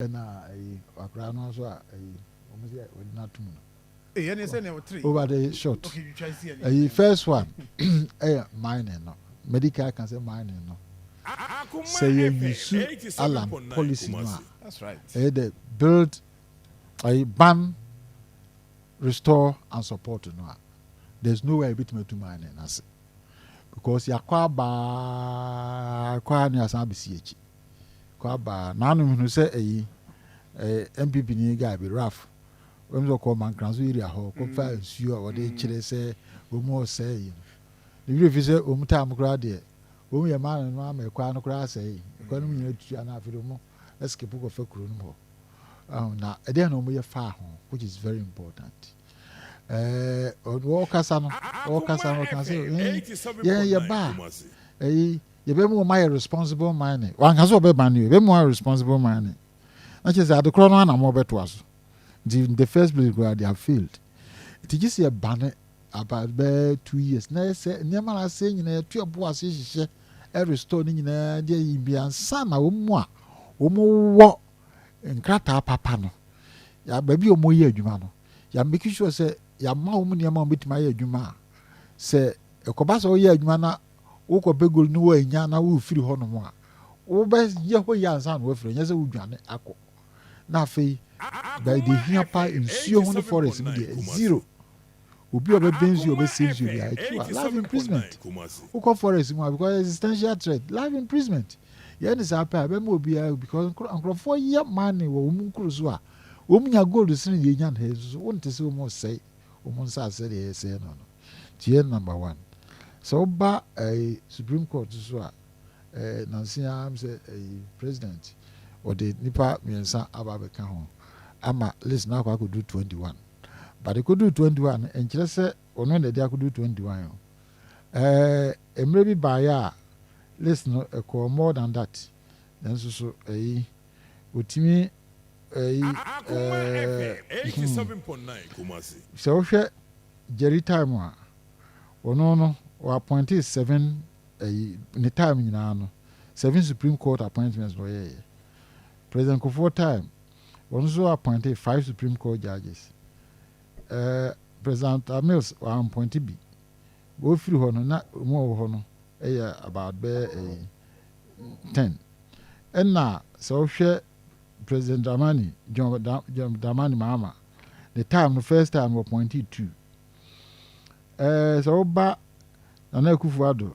Ɛna ayi wakora no nso a ayi wɔn sɛ wɔde no atum no. Eyi ne sɛ na ɛwɔ three. Over the short. Okay, twa nsi ɛni. Ayi first one ɛyɛ mining no medical kan sɛ mining no sɛ yɛ yusu alan policy no a ɛyɛ the build ayi ban restore and support no a there is no way ebitumi atu mining n'ase because yakɔ abaa kɔ a ne asan abesi akyi. kɔ aba naanu hunu sɛ ɛyi ɛɛ npp ni guy bi raf wɔn sɛ kɔ mankranso area hɔ kɔ fa mm. nsuo a wɔde mm. kyerɛ sɛ wɔn ɔsɛɛ yi ne wura fi sɛ wɔn taa mu koraa deɛ wɔn yɛ maa no ama ɛkwan no koraa asɛɛ yi ɛkwan no mu nyinaa tutu anaa afei wɔn ɛsikipu kɔ fa kuro no mu hɔ na ɛdeɛ na wɔn yɛ faa ho which is very important ɛɛ wɔkasa no wɔkasa no wɔkasa yɛn yɛn yɛ baa ɛyi. Yɛbɛma wɔn ayɛ responsible mining. Wanka sɛ ɔbɛma no, yɛbɛma wɔn ayɛ responsible mining. Na kyerɛ sɛ adekorɔ no anam wɔbɛtoa so. Nti in the first place koraa they have failed. Nti gye sɛ yɛba no about bɛyɛ two years na yɛ sɛ nneɛma no asɛe nyinaa yɛto ɛbo ase hyehyɛ ɛrestore no nyinaa deɛ yi bi ansa na wɔn mu a wɔn wɔ nkrataa papa no baabi a wɔyɛ adwuma no yɛ make sure sɛ yɛama wɔn nneɛma wɔn bɛtumi ayɛ adwuma a sɛ ɛkɔba sɛ wɔyɛ adwuma na wokɔpɛ gold no woannya na worefiri hɔnom a, wobɛyɛ hɔ yie ansa na woafiri, ɛnyɛ sɛ wodwane akɔ. Na afei, baabi deɛ ɛhia paa nsuo ho ne forest mu deɛ, zero. Obi a ɔbɛbɛn nsuo a ɔbɛsɛ nsuo biara, ɛtu a, life imprisonment. Wokɔ forest mu a, because existential threat, life imprisonment. Yɛn ne saa pɛ a, ɛbɛma obiara, because nkurɔfoɔ yɛ mining wɔ wɔn nkuro so a, wɔn nya gold sene deɛ yɛnya no ha yi nso so, wonte sɛ wɔn resɛe wɔn nsaase sɛdeɛ yɛsɛe no no. Tiɛ number one. Sɛ woba ɛyi supreme court so a ɛɛ nansi ara m sɛ ɛyi president ɔde nipa mmiɛnsa aba abɛka ho ama list na akɔ akɔdu twenty one but ekodu twenty one no nkyerɛ sɛ ɔno na ɛde akɔdu twenty one o ɛɛ mmerɛ bi baayɛ a list no ɛkɔɔ more than that nanso so ɛyi ɔtumi ɛyi ɛɛ hmm sɛ wohwɛ Jerry time a ɔno no wɔ appointee seven ɛyi ne time nyinaa no seven supreme court appointments na ɔyɛɛyɛ president kofoɔ time ɔno nso appointee five supreme court judges ɛɛ president amils wɔampɔnte bi wɔfiri hɔ no na wɔn a wɔwɔ hɔ no ɛyɛ about bɛyɛ ɛyi. ten. Nna sɛ wohwɛ President Dramani, John, da, John Dramani Mahama, ne time no first time wɔpɔnte two. Ɛɛ sɛ woba Nana Akufo-Addo